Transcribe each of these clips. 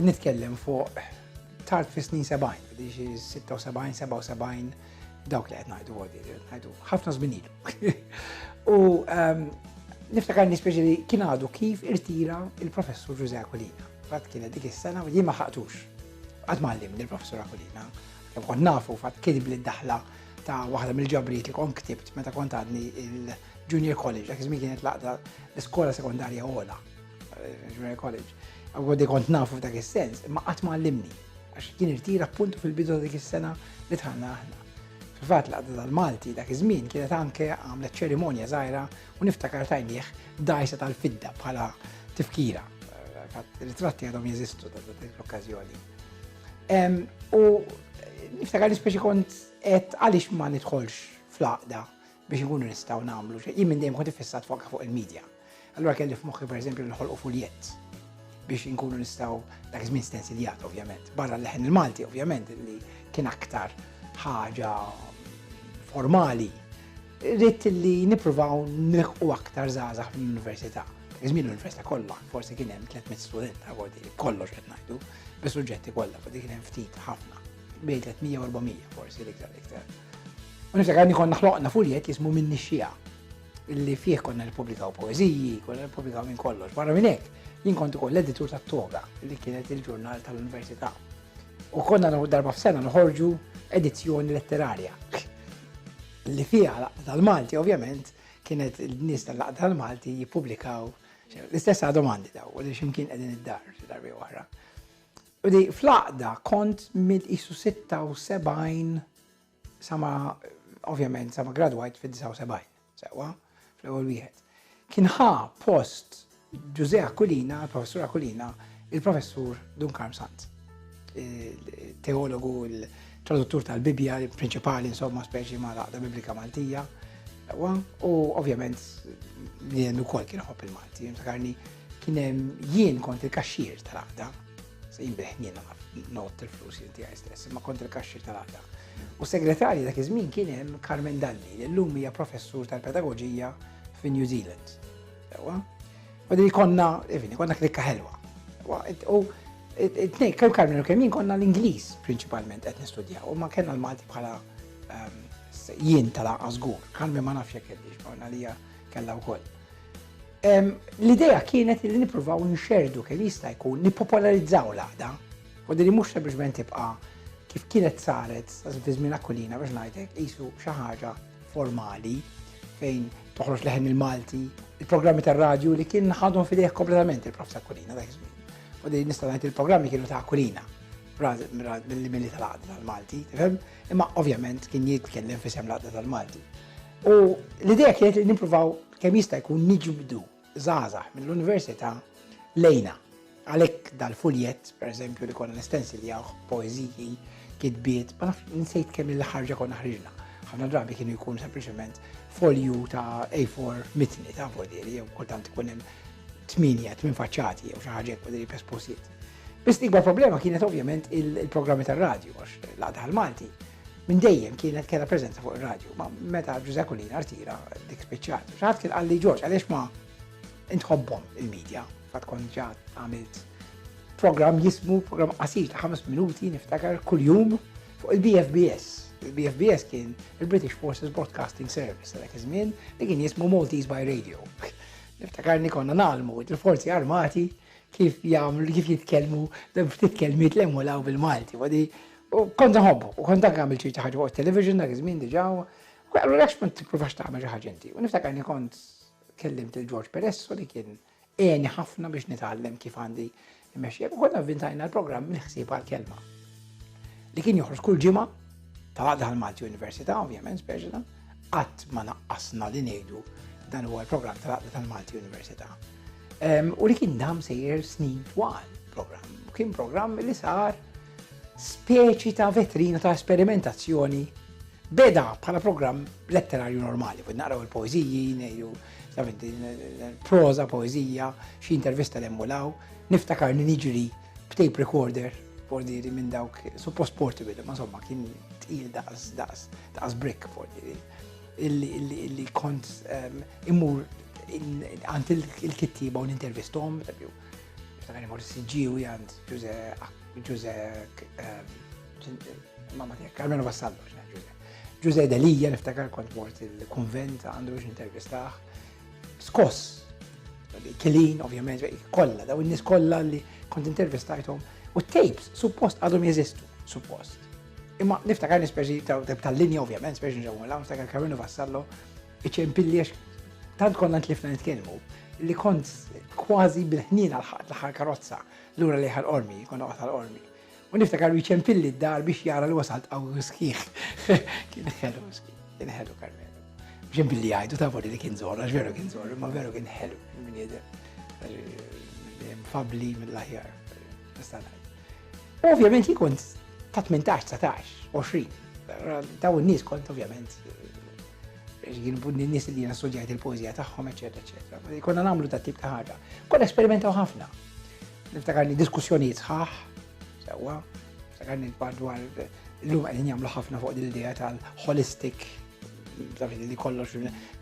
Nitkellem fuq tard fi snin 70, diġi 76, 77, dawk li qed ngħidu għodi, ngħidu ħafna żmien ilu. U ehm, niftakar nispeċi li kien għadu kif irtira il-professur Ġuże Akulina. Fatt kienet dik is-sena li ma ħaqtux. Qatt mallim il-professur Akulina. Kemm kont nafu fatt kien li daħla ta' waħda mill-ġabriet li kont ktibt meta kont għadni il-Junior College, dak iż kienet laqda l-iskola sekondarja għola. Junior College. Għoddi kont nafu f'dak is-sens, ma qatt ma għallimni. Għax kien irtira appuntu fil-bidu dik is-sena li tħanna aħna. Fil-fatt li għadda dal-Malti dak iż-żmien kienet anke għamlet ċerimonja żgħira u niftakar tajnieh dajsa tal-fidda bħala tifkira. Ritratti għadhom jeżistu ta' dik l-okkażjoni. U niftakar li speċi kont qed għaliex ma nidħolx fl-aqda biex ikunu nistgħu nagħmlu xejn. Jien minn dejjem kont fissat fuq fuq il-medja. Allura kelli f'moħħi pereżempju li ħolqu fuljett biex inkunu nistgħu dak iż-żmien stensiljat ovvjament, barra l-leħen il-Malti ovvjament li kien aktar ħaġa formali. Ritt li nippruvaw nilħqu aktar żgħażagħ mill-università. Iżmin l-università kollha, forsi kien hemm 300 student ta' kollox qed ngħidu, bis-suġġetti kollha, forsi kien hemm ftit ħafna. bejn 300 u 400 forsi l-iktar iktar. U niftakar li konna ħloqna fuljet li jismu minni xija li fih konna nipublikaw poeziji, konna nipublikaw minn kollox. Barra minn hekk, jien kont ukoll l-editur tat-toga li kienet il-ġurnal tal-Università. U konna darba f'sena nħorġu edizzjoni letterarja li fiha laqda tal-Malti, ovvjament, kienet il-nies tal-laqda tal-Malti jippubblikaw l-istess domandi daw, li ximkien qegħdin id-dar, darbi oħra. Li fl-għaqda kont mill qisu 76 sa ma ovvjament sa ma gradwajt fid-79, sewwa, fl-ewwel wieħed. Kien ħa post Ġużè Aquilina, il-Professur Aquilina, il-Professur Dun Karm Sant. Teologu, il-traduttur tal-Bibbja, il-prinċipali insomma speċi ma' l-għaqda Biblika Maltija. U ovvjament li jendu kol kien ħobb il-Malti, jimtakarni Kien hemm jien kont il-kaxxier tal-għaqda. Se jinbih jien nagħraf not il-flus jien tiegħi stess, imma kont il-kaxxier tal-għaqda. U segretarji dak iż-żmien kien hemm Carmen Dalli, li llum hija professur tal-pedagoġija fi New Zealand. Ewa. U din konna, evini, konna klikka ħelwa. U t-nej, kemm Carmen u kemm jien konna l-Ingliż prinċipalment qed nistudjaw, u ma kellna l-Malti bħala ehm, jien tal-għażgur. Carmen ma nafx jekk kellix, ma nalija kellha wkoll. L-idea kienet li nippruvaw nxerrdu kemm jista' jkun nippopolarizzaw l-għaqda. Wadda li mhux sempliċement tibqa' kif kienet saret fi żmien Aquilina biex ngħidlek qisu xi ħaġa formali fejn toħroġ leħen il-Malti, il-programmi tar-radju li kien ħadhom fidejh kompletament il-prof ta' Kulina dak iż-żmien. U din nista' ngħid il-programmi kienu ta' Kulina mill-mili tal-għadda tal-Malti, tifhem? Imma ovvjament kien jitkellem fi sem l-għadda tal-Malti. U l-idea kienet li nippruvaw Kemm jista' jkun niġbdu żgħażagħ mill-università lejna. Għalhekk dal-fuljett, pereżempju li konna nistensiljawh poeżiji, kitbiet, ma nafx nsejt kemm il-ħarġa konna ħriġna. Ħafna drabi kienu jkun sempliċement folju ta' A4 mitni ta' vodieri, jew kultant ikun hemm tminja, tmin faċċati, jew xi ħaġa vodieri pes posiet. Biss ikbar problema kienet ovvjament il-programmi tar-radju, għax l-għadha l-Malti Minn dejjem kienet kena preżenza fuq ir-radju, ma meta Ġużè Collina rtira dik spiċċat. Xi ħadd kien qal li Ġorġ għaliex ma intħobbhom il-medja, fatt kont ġa għamilt programm jismu programm qasir ta' ħames minuti niftakar kuljum fuq il-BFBS. Il-BFBS kien il-British Forces Broadcasting Service tal iż-żmien li kien jismu Maltese by Radio. Niftakarni konna nalmu il-forzi armati kif jagħmlu kif jitkellmu ftit kelmiet l-emulaw bil-Malti. Wadi U kont nħobbu, u kont dak għamil ċerti ħaġa fuq television dak iż-żmien diġà. U għallu l ma tippruvax tagħmel xi ħaġa inti. U niftakar li kont kellimt il-Ġorġ Peresso li kien għeni ħafna biex nitgħallem kif għandi immexxija. U konna vintajna l-programm mill-ħsieb għal-kelma. Li kien joħroġ kull ġimgħa ta' daħal Malti Università, ovvjament, speċjala, qatt ma naqqasna li ngħidu dan huwa l-programm tal-Aqda tal-Malti Università. U li kien dam sejjer snin twal program. Kien program li sar speċi ta' vetrina ta' esperimentazzjoni beda bħala programm letterarju normali, bud naqraw il-poeziji, nejju, proza, poezija, xi intervista l emmulaw niftakar li niġri b'tape recorder, fordiri minn dawk, suppost portable, ma somma kien tqil daqs, daqs, daqs brick fordiri, illi kont ehm, immur għant il-kittiba u l-intervistom, Niftakar li mort siġġiwi għand Ġuże Ġuże ehm, mamma tiegħek Carmelo Vassallo Ġuże. Ġuże Delija niftakar kont mort il-kunvent għandu biex intervistaħ. Skoss, kelin ovvjament, kollha daw in-nies kollha li kont intervistajthom u tapes suppost għadhom jeżistu, suppost. Imma niftakar nispeċi tal-linja ovvjament, speċi nġewmu l-għam, niftakar Carmelo Vassallo Iċempilli għax tant konna ntlifna nitkellmu li kont kważi bil-ħnina l-ħat l-ħar karozza l-ura li ħal ormi, konna għat ħal ormi. U niftakar jċempilli d-dar biex jara li wasalt għaw skiħ. Kien ħelu, kien ħelu karmelu. Ġempilli għajdu ta' voli li kien zorra, ġveru kien zorra, ma veru kien ħelu. Fabli mill-laħjar. Ovvjament jikun ta' 18, 19, 20. Daw n-nis kont ovvjament n-nis li jina studjajt il-poezija tagħhom, eċetera, eċetera. Konna nagħmlu ta' tip ta' ħaġa. Konna esperimentaw ħafna. Niftakarni diskussjonijiet sħaħ, sewwa, niftakarni l-part dwar l-lum qegħdin jagħmlu ħafna fuq din l-idea tal-holistic li kollox.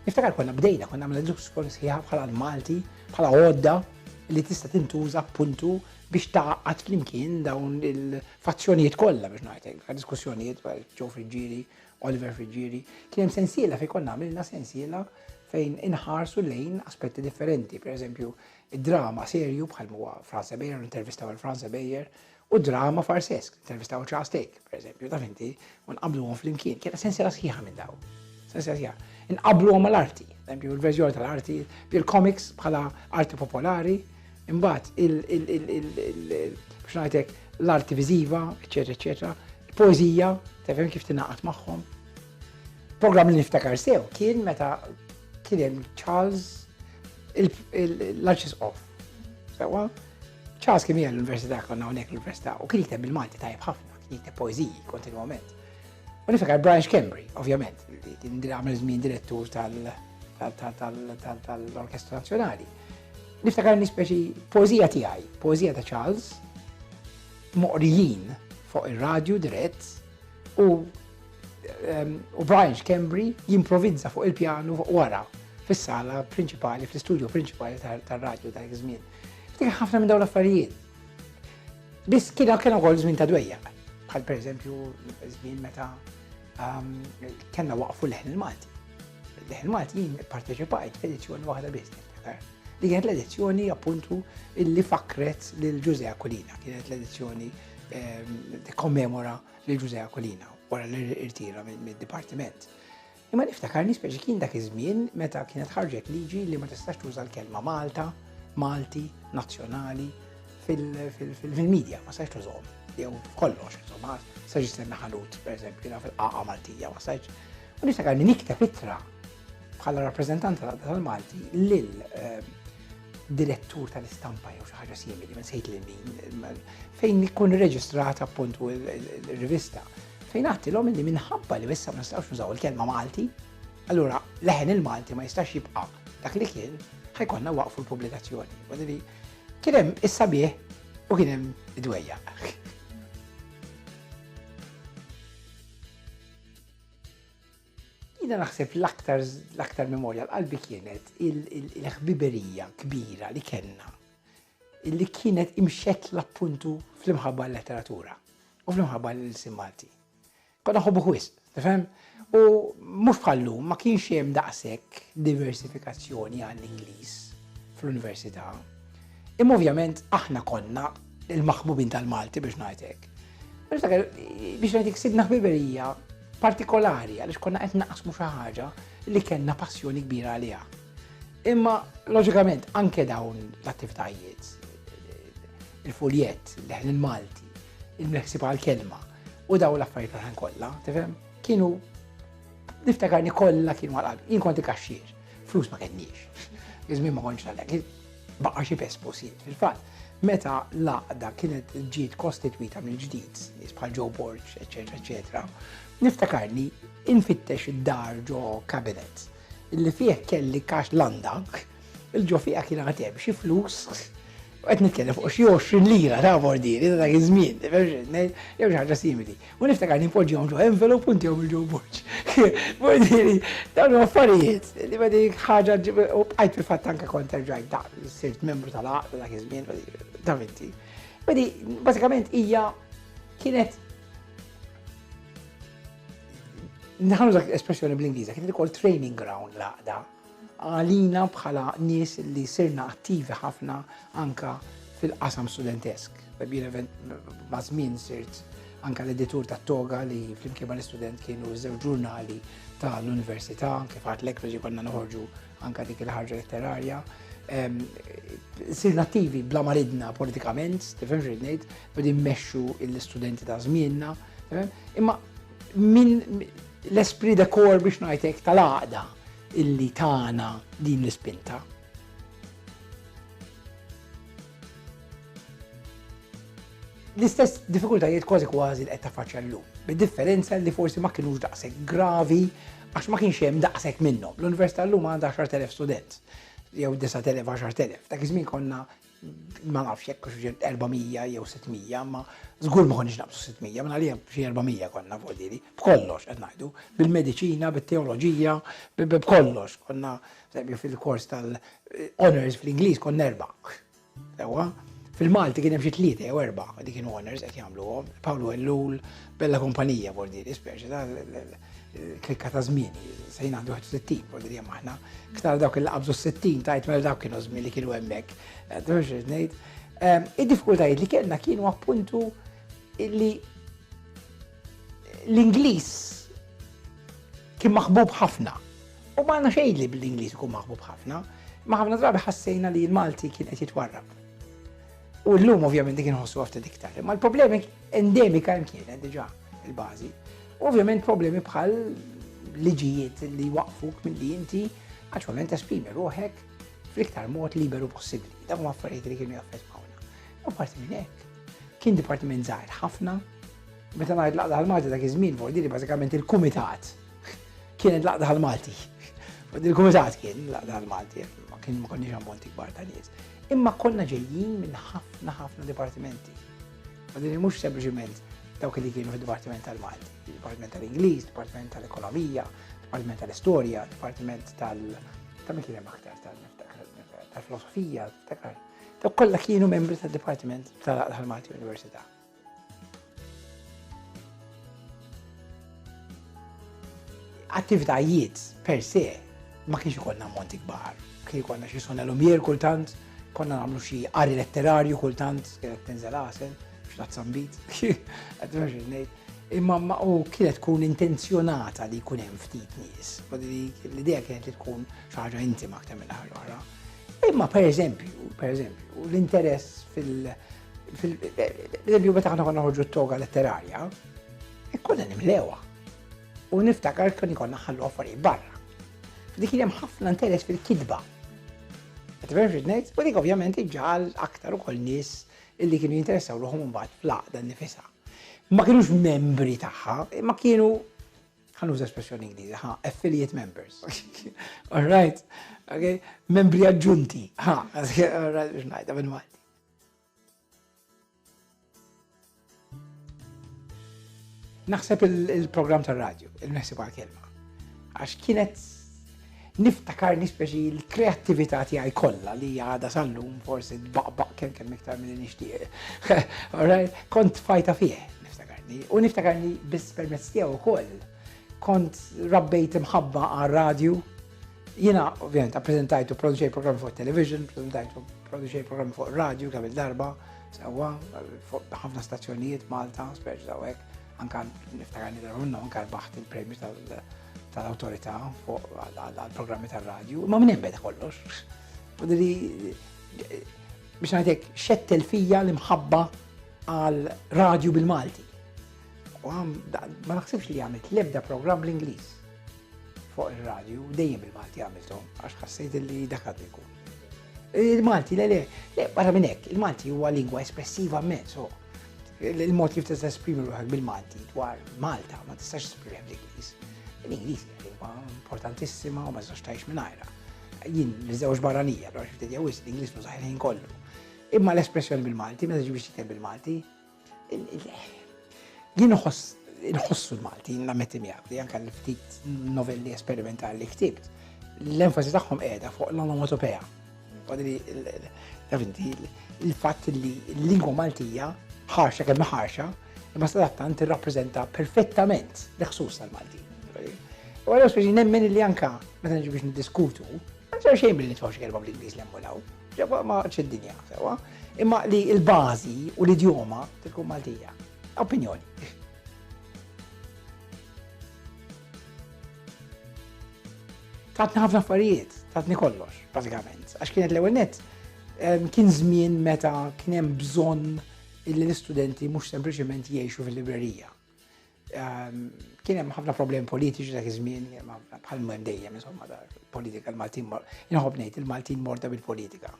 Niftakar konna bdejna, konna għamlu diskussjoni sħiħa bħala l-Malti, bħala għodda li tista' tintuża puntu biex taqqat flimkien dawn il-fazzjonijiet kollha biex ngħidlek, diskussjonijiet ġew fil-ġiri Oliver Friggieri, kien hemm sensiela fejn konna għamilna sensiela fejn inħarsu lejn aspetti differenti, per eżempju, drama serju bħal muwa Franza Bejer, intervistaw għal Franza Bejer, u drama farsesk, intervistaw ċa stejk, per eżempju, ta' finti, un qablu għom fl-imkien, kena sensiela sħiħa minn daw. Sensiela sħiħa. Inqablu għom l-arti, eżempju, l-verżjoni tal-arti, bil-komiks bħala arti popolari, Imbagħad biex ngħidlek l-arti viżiva, eċetera, eċetera, poeżija, tefhem kif tingħaqad magħhom. Programm li niftakar sew kien meta kien hemm Charles l-Arċis Off. Sewa, Charles kien jgħal l-Università konna hawnhekk l-Università u kien jiteb il-Malti tajjeb ħafna, kien jiteb poeżiji kontinwament. U niftakar Brian Schembri, ovvjament, kien għamel żmien direttur tal- tal-Orkestra Nazzjonali. Niftakar nispeċi poezija tiegħi, poezija ta' Charles, moqrijin fuq ir-radju dirett u ehm, u Brian Schembri jimprovizza fuq il-pjanu fuq wara fis-sala prinċipali, fl-istudju prinċipali tar-radju ta' żmien. Ftik ħafna minn dawn l-affarijiet. Biss kien kien ukoll żmien ta' dwejja, bħal pereżempju żmien meta Kellna waqfu l-ħin il-Malti. L-ħin Malti jien parteċipajt f'edizzjoni waħda biss niftakar. Li kienet l-edizzjoni appuntu illi fakret lil Ġuże Akulina, kienet l-edizzjoni kommemora lil Ġuże Akulina wara l-irtira mid-dipartiment. Imma niftakar nispeċi kien dak iż-żmien meta kienet ħarġet liġi li ma tistax tuża l-kelma Malta, Malti, Nazzjonali, fil-media, ma sajx tużom, jew kollox, insomma, sajx jistenna ħanut, per eżempju, na fil-qaqa Maltija, ma sajx. U nista' għalli nikta fitra bħala rappresentanta tal-Malti lil ehm, direttur tal-istampa jew xi ħaġa simili, ma sejt lil min, fejn ikun reġistrat appuntu il-rivista, fejn għattilhom li minħabba li issa ma nistgħux nużaw il-kelma Malti, allura leħen il-Malti ma jistax jibqa' dak li kien ħajkonna waqfu l-pubblikazzjoni. Kien hemm is-sabiħ u kien hemm id-dwejjaq. Jina naħseb l-aktar l-aktar memorja l-qalbi kienet il-ħbiberija kbira li kenna li kienet imxet l-appuntu fl-imħabba l-letteratura u fl-imħabba l-insim Malti. Konna ħobbuh wisq, tifhem? U mhux bħal lum ma kienx hemm daqshekk diversifikazzjoni għall-Ingliż fl-università. Imma ovvjament aħna konna il-maħbubin tal-Malti biex ngħidlek. Niftakar biex ngħidlek sidna ħbiberija partikolari għaliex konna qed naqsmu xi ħaġa li kellna passjoni kbira għaliha. Imma loġikament anke dawn l-attivitajiet il-fuljett, leħn il-Malti, il-meħsib għal-kelma, U daw l-affarijiet l-oħrajn kollha, tifhem? Kienu niftakarni kollha kienu għal Jien konti kaxxier, flus ma kenniex. Iżmin ma kontx għalhekk. Baqa' xi pes posit fil-fatt. Meta l-għaqda kienet ġiet kostitwita mill-ġdid, bħal ġew borġ, eċetera, eċetera, niftakarni infittex id-dar ġo kabinet li fih kelli kax landak Il-ġo fiha kien għad hemm xi flus u qed nitkellem fuq xi 20 lira ta' bordiri ta' dak iż-żmien, jew xi ħaġa simili. U niftakar li npoġġihom ġo envelop u ntihom il-ġo borġ. Bordiri, dawn affarijiet li ma dik ħaġa u bqajt fil-fatt anke kont terġajt da' sirt membru tal-għaqda dak iż-żmien, ta' minti. Badi, bażikament hija kienet Nħalu dak l-espressjoni bl-Ingliża, kien ukoll training ground laqda. għalina bħala nies li sirna attivi ħafna anke fil-qasam studentesk. Maż-żmien sirt anke l-editur tat-Toga li flimkien mal-istudent kienu żewġ ġurnali tal-università, kif għadlek biex konna noħorġu anke dik il-ħarġa letterarja. Sirna attivi bla maridna politikament, tifhem xi ngħid, bidi mmexxu l-istudenti ta' żmienna. Imma Min l-esprit de kor biex ngħidlek tal-għaqda illi tagħna din l-ispinta. L-istess diffikultajiet kważi kważi li qed tafaċċja llum, bid-differenza li forsi ma kinux daqshekk gravi għax ma kienx hemm daqshekk minnhom. L-Università llum għandha 10,000 student jew 9,000 10,000. Dak iż-żmien konna Ma nafx jekk hux 400 jew 600, ma żgur ma konniex naqbżu 600, minn għalija xi 400 konna fuq dili, b'kollox qed ngħidu, bil-mediċina, bit-teoloġija, b'kollox. Konna fil-kors tal-honors fl-Ingliż konna erba'. Sewwa? Fil-Malti kien hemm xi tlieta jew erba' li kienu honors qed jagħmluhom, Pawlu Ellul, Bella kumpanija Bordiri, speċi ta' l-klikka ta' żmien, se jingħandu 60 Bordiri hemm aħna. Ktar dawk il qabżu 60 tajt mela dawk kienu żmien li kienu hemmhekk. ngħid. Ehm, id-diffikultajiet li kellna kienu appuntu li l-Ingliż kien maħbub ħafna. U ma għandna xejn li bl-Ingliż ikun maħbub ħafna, ma ħafna drabi ħassejna li l-Malti kien qed jitwarrab. U llum ovvjament dik inħossu ftit iktar, imma l-problemi endemika hemm kienet diġà il-bażi. Ovvjament problemi bħal liġijiet li waqfuk milli inti għaċwament esprimi ruħek fl-iktar mod liberu possibbli. Dak ma affarijiet li kienu jaffettwawna. U parti minn hekk, kien dipartiment żgħir ħafna. Meta ngħid laqda għal-Malti dak iż-żmien vordi li bażikament il-kumitat kienet laqda għal-Malti. Il-kumitat kien laqda għal-Malti, ma kien ma konniex ammonti kbar ta' nies. Imma konna ġejjin minn ħafna ħafna dipartimenti. U din mhux sempliċiment dawk li kienu fid-Dipartiment tal-Malti, Dipartiment tal-Ingliż, Dipartiment tal-Ekonomija, Dipartiment tal-Istorja, Dipartiment tal- ta' min kien hemm aktar tal-filosofija, ta' kollha kienu membri tad-Dipartiment tal-Malti Università. Attivitajiet per se ma kienx ikollna ammonti kbar. Kien ikollna xi sona lumjer kultant, konna nagħmlu xi qari letterarju kultant, kienet tinżel għasel, x'tat sambit, qed ngħid ngħid. Imma ma u kienet tkun intenzjonata li jkun hemm ftit nies. L-idea kienet li tkun xi ħaġa intima aktar minn ħaġa oħra. Imma pereżempju, pereżempju, l-interess fil- Fil-eżempju, meta għana konna ħoġu t-toga letterarja, e konna nimlewa. U niftakar kien konna ħallu affarijiet barra. Dik kien hemm ħafna interess fil-kidba. Qed verġi ngħid, u dik ovvjament iġġal aktar ukoll nies illi kienu jinteressaw ruħhom imbagħad fl-għaqda nifisha. Ma kienux membri tagħha, ma kienu ħanuż espressjoni Ingliżi, ha, affiliate members. All right, okay, membri aġġunti, ha, all right, biex ngħidha bil-Malti. Naħseb il-program tal-radio, il-meħsib għal-kelma. Għax kienet niftakar nispeċi l-kreativita tiegħi kollha li għada sallum forsi baqbaq kemm kemm iktar minn nixtieq. Kont fajta fih, niftakarni. U niftakarni biss permezz tiegħu wkoll. Kont rabbejt imħabba għal-radio, Jiena ovvjament appreżentajt u produċej programmi fuq television, preżentajt u produċej programmi fuq radio kemm il-darba, sewwa fuq ħafna stazzjonijiet Malta, speċi dawek, anka niftakar li darba minnhom anka baħt il-premju tal-awtorità fuq għall-programmi tar-radju, ma minn hemm kollox. Fadili biex ngħidlek xettel fija l-imħabba għal radju bil-Malti. U għam, ma naħsibx li għamilt lebda program bl-Inglis. Fuq ir-radju dejjem il-Malti għamilthom għax ħassejt li dak għandu jkun. Il-Malti, le, le, le, barra minn hekk, il-Malti huwa lingwa espressiva mezz, so il-mod kif tista' esprimi ruħek bil-Malti dwar Malta ma tistax esprimi bl-Ingliż. L-Ingliż lingwa importantissima u ma tistax tgħix mingħajra. Jien niżewġ barranija, allura xi ftit jew l-Ingliż nużaħ ħin kollu. Imma l-espressjoni bil-Malti, meta ġibi xi bil-Malti, Jien nħoss inħossu l-Maltin nammetti miegħek li anke l-ftit novelli esperimentali li ktibt l-enfasi tagħhom qiegħda fuq l-onomatopea. Davinti, il-fatt li l-lingwa Maltija ħarxa kemm ħarxa, imma sadattant tirrappreżenta perfettament l-ħsus tal-Malti. U għalhekk speċi nemmen li anka meta nġi biex niddiskutu, ma xejn billi tfawx kelma bl-Ingliż l-emmolaw. Ġewwa ma għadx id-dinja sewwa, imma li l-bażi u l-idjoma tkun Maltija. Opinjoni. tatni ħafna affarijiet, tatni kollox, bażikament. Għax kienet l-ewwel net, kien żmien meta kien hemm bżonn illi l-istudenti mhux sempliċement jgħixu fil-librerija. Kien hemm ħafna problemi politiċi dak iż-żmien, bħal minn dejjem insomma politika l-Maltin inħobb ngħid il-Maltin morta bil-politika.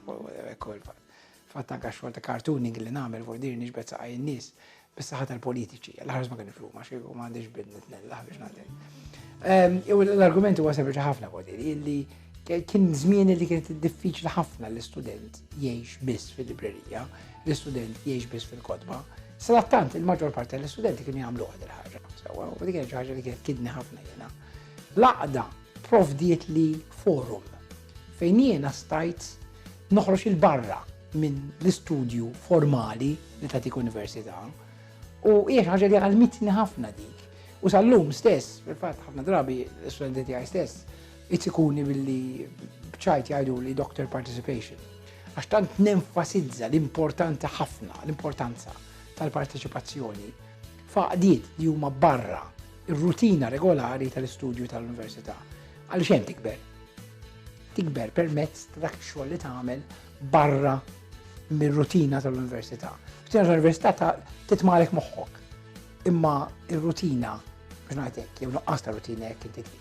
Fatt anke xogħol ta' cartooning li nagħmel fuq dir niġbed saqaj in-nies bis-saħħa tal-politiċi. L-ħarż ma kien flu ma xejn ma għandix bidnet nella biex nagħti. L-argument huwa sempliċi ħafna fuq dir li Kien żmien li kienet diffiċli ħafna l-istudent jgħix biss fil-librerija, l-istudent jgħix biss fil-kotba. Sadattant il-maġġor parti tal-istudenti kienu jagħmlu għad il-ħaġa. Sewa, u dik ħaġa li kienet kidni ħafna jiena. Laqda provdiet li forum fejn jiena stajt noħroġ il-barra minn l-istudju formali li tatik università u hija ħaġa li għalmitni ħafna dik. U sal-lum stess, fil-fatt ħafna drabi l-istudenti tiegħi stess, Itikuni billi bċajt jgħidu li doctor participation. Għax tant nenfasizza l-importanza ħafna, l-importanza tal-parteċipazzjoni faqdiet li huma barra ir-rutina regolari tal-istudju tal-università. Għal xem tikber? Tikber permezz ta' dak xogħol li tagħmel barra mir-rutina tal-università. Rutina tal-università ta' titmalek moħħok. Imma ir-rutina, biex ngħidlek, jew nuqqas ta' rutina jekk inti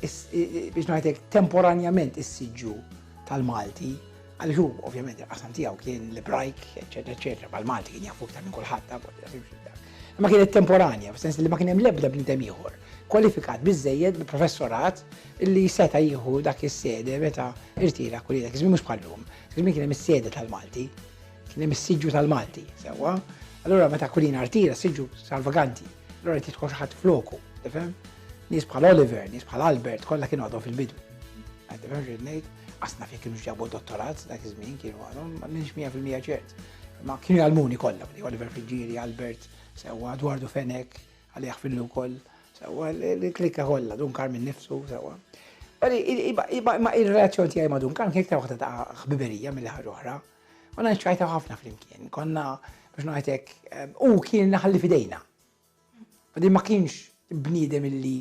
biex ngħidlek temporanjament is-siġġu tal-Malti, għaliex hu ovvjament il-qasam tiegħu kien l-Ebrajk, eċetera, eċetera, mal-Malti kien jafu iktar minn kulħadd ma kienet temporanja, f'sens li ma kien hemm l-ebda bniedem ieħor kwalifikat biżejjed bi professorat li seta' jieħu dak is-sede meta irtira kulli dak iż-żmien mhux bħallum. Żmien kien hemm is-sede tal-Malti, kien hemm is-siġġu tal-Malti, sewwa. Allura meta kulina artira siġġu salvaganti, allura titħol ħadd floku, tifhem? Nies bħal Oliver, nies bħal Albert, kollha kienu għadhom fil-bidu. Għadhom irrid ngħid, qasna fejn kienu ġabu dottorat dak iż-żmien kienu għadhom, ma minx 100% ċert. Ma kienu jgħalmuni kollha, Oliver Friġġieri, Albert, sewwa Edwardu Fenek, għalih fillu wkoll, sewwa l-klikka kollha, dun Karmin nifsu, sewwa. Ma il-relazzjon tiegħi ma dun Karmin kien iktar waħda ta' ħbiberija mill ħaġa oħra. U nċajta ħafna flimkien, konna biex ngħidlek, eh, u kien naħalli fidejna. li ma kienx bniedem illi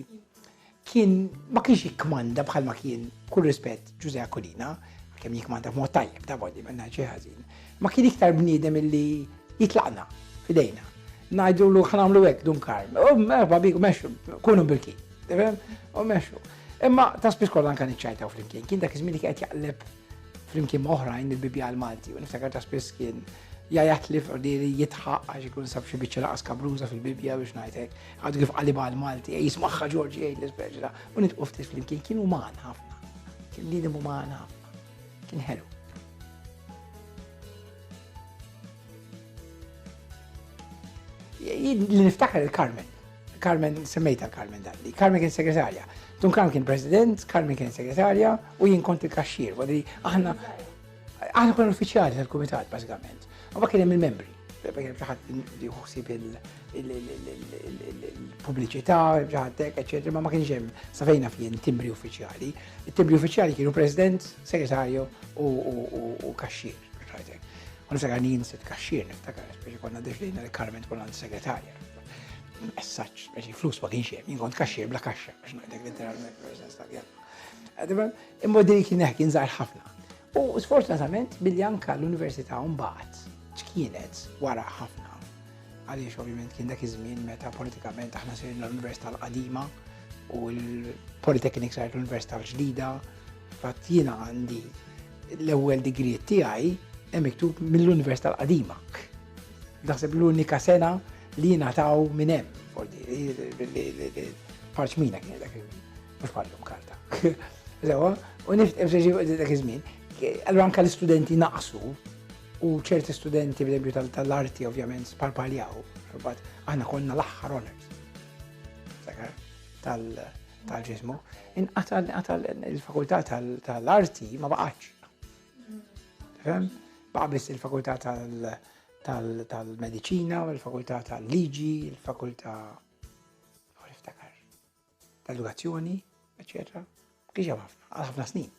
kien ma kienx jikmanda bħalma kien kull rispett Ġuże Akulina, kemm jikmanda b'mod tajjeb ta' bodi ma ngħidx ħażin. Ma kien iktar bniedem illi jitlaqna fidejna. Ngħidu lu ħnamlu hekk dun karm. U merħba biku mexxu, kunu bil-kien. U mexxu. Imma ta' spiss kollha anke niċċajtaw flimkien. Kien dak iż-żmien li qed jaqleb Flimkien ma' oħrajn il-bibjal Malti u niftakar ta' spiss kien jajat li f'ordili jitħaq għax ikun sab xi biċċa laqas kabruża fil-Bibja biex ngħidlek. Għadu kif qalibha għal Malti, ej jismagħha Ġorġi jgħid l-ispeċi ta' u nitqu ftit flimkien kien uman ħafna. Kien bniedem uman ħafna. Kien ħelu. Li niftakar il-Carmen, Carmen, semmejta Carmen Dalli. Carmen kien segretarja. Tun Kram kien president, Carmen kien segretarja u jien kont il-kaxxir. Għadri, aħna, aħna konna uffiċjali tal-komitat, basikament. U ma kien hemm il-membri. Kien ġaħat li uħsib il-publiċità, ġaħatek, eccetera, ma ma kienx hemm safejna fien timbri uffiċjali. Il-timbri uffiċjali kienu president, segretarju u kaxxir. Għaniftakar nien sit kaxxir, niftakar, speċi konna deċdejna li Carmen tkun għand segretarja. Messaġġ, għax il-flus ma kienx hemm, kont kaxxier bla kaxxa, biex ngħidlek literalment persens ta' għadibel, imma din kien kien żgħar ħafna. U sfortunatament billi anka l-Università mbagħad ċkienet wara ħafna. Għaliex ovvjament kien dak iż-żmien meta politikament aħna sirna l-Università l-qadima u l-Polytechnic saret l-Università l-ġdida Fatt jiena għandi l-ewwel degree tiegħi hemm miktub mill-Università l-Qadima. Naħseb l-unika sena li jiena taw minn hemm. Parċmina kien dak mhux bħallum karta. Sewa, u niftem se dak iż-żmien. Allura anke l-istudenti naqsu u ċerti studenti bl tal-arti ovvjament sparpaljaw. Aħna konna l-aħħar honors. Tal- tal-ġismu, inqata' inqata' il-fakultà tal-arti ma baqgħatx. Fem? Baqa' biss il-fakultà tal-medicina, il-fakultà tal-liġi, il-fakultà tal-edukazzjoni, eccetera. Kiex hemm ħafna, għal ħafna snin.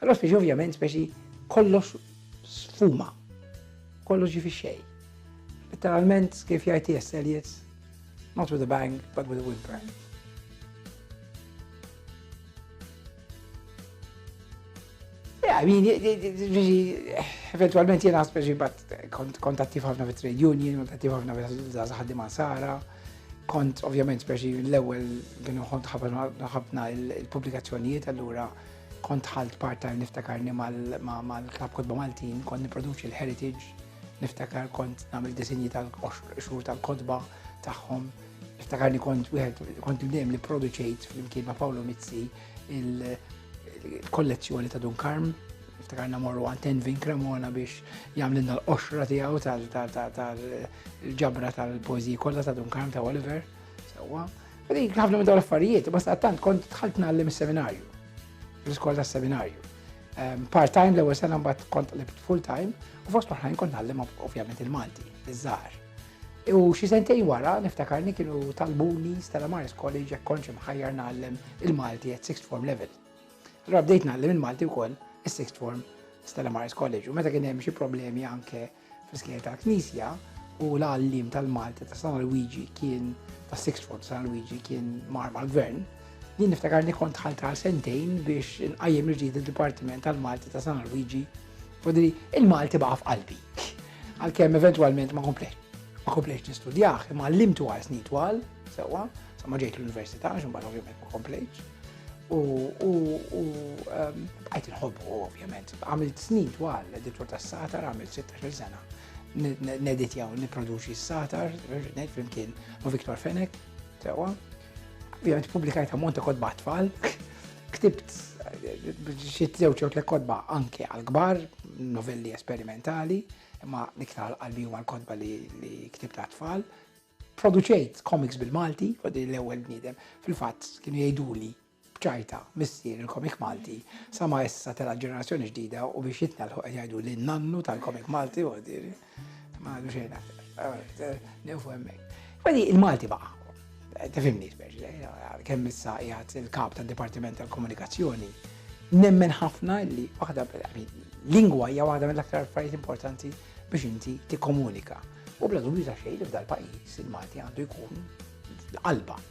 Allora speċi ovvjament speċi kollox sfuma, kollox ġifi xej. Literalment kif jgħid T.S. Eliot, not with a bang, but with a whimper. Yeah, I mean, eventualment jena speċi bat kontattiv ħafna fit trade union, kontattiv ħafna fit ħaddim Sara. Kont ovvjament speċi l-ewwel kienu kont ħafna il-pubblikazzjonijiet allura kont ħalt part-time niftakarni mal-Klab Kodba Maltin, kont niproduċi l-Heritage, niftakar kont nagħmel disinji tal-xhur tal-kodba tagħhom. Niftakarni kont wieħed kont dejjem li produċejt flimkien ma' Paolo Mizzi il-kollezzjoni ta' Dunkarm iftakarna morru għan Tenvin Cremona biex jamlinna l-qoxra tijaw tal-ġabra tal-pozi kolla ta' Dunkarm ta' Oliver. Sewa. Dik ħafna minn dawn l-affarijiet, basta għattant kont tħalt nallim seminarju l-iskola tas seminarju ehm, Part-time l-ewwel sena mbagħad kont libt full-time u fost oħrajn kont nallim ovvjament il-Malti, iż-żgħar. U xi sentejn wara, niftakarni kienu talbuni Stella Maris College jekk kontx imħajjar nagħallem il-Malti at sixth form level. Allora bdejt nagħallem il-Malti wkoll is-sixth form Stella Maris College u meta kien hemm xi problemi anke fl-iskejjel tal-Knisja u l-għallim tal-Malti ta' San Luigi kien ta' sixth form San Luigi kien mar mal-gvern. Jien niftakarni kont ħalta sentejn biex inqajjem il-ġdid il-Dipartiment tal-Malti ta' San Luigi. Fodri, il-Malti baqa' f'qalbi. Għalkemm eventwalment ma komplejt ma komplejt nistudjah, imma għallimtu għal snin twal, sewwa, sa ma ġejt l-università, xumbar ovvjament ma komplejt. U ehm, għajt nħobbu ovvjament, għamilt snin twal, editor ta' satar, għamilt 16 sena, neditja u niproduċi s-satar, nejt flimkien ma' Viktor Fenek, sewwa. Ovvjament publikajt għamonta kod batfall, Ktibt xi żewġ jew tliet kotba anke għal kbar, novelli esperimentali, imma l-iktar qalbi huma l-kotba li ktibt għat tfal. Produċejt komiks bil-Malti, għodi l-ewwel bniedem, fil-fatt kienu jgħiduli bċajta missier il-komik Malti, sama issa tela ġenerazzjoni ġdida u biex jitnalħu qed jgħidu li nannu tal-komik Malti għodi. Ma għadu xejn aktar. Nifu hemmhekk. Wadi il-Malti baqa. Tifimni speċi, kemm issa jgħat il-kap tad Dipartiment tal-Komunikazzjoni, nemmen ħafna li waħda lingwa hija waħda mill-aktar affarijiet importanti biex inti tikkomunika. U bla dubju ta' xejn li f'dal-pajjiż il-Malti għandu jkun l-qalba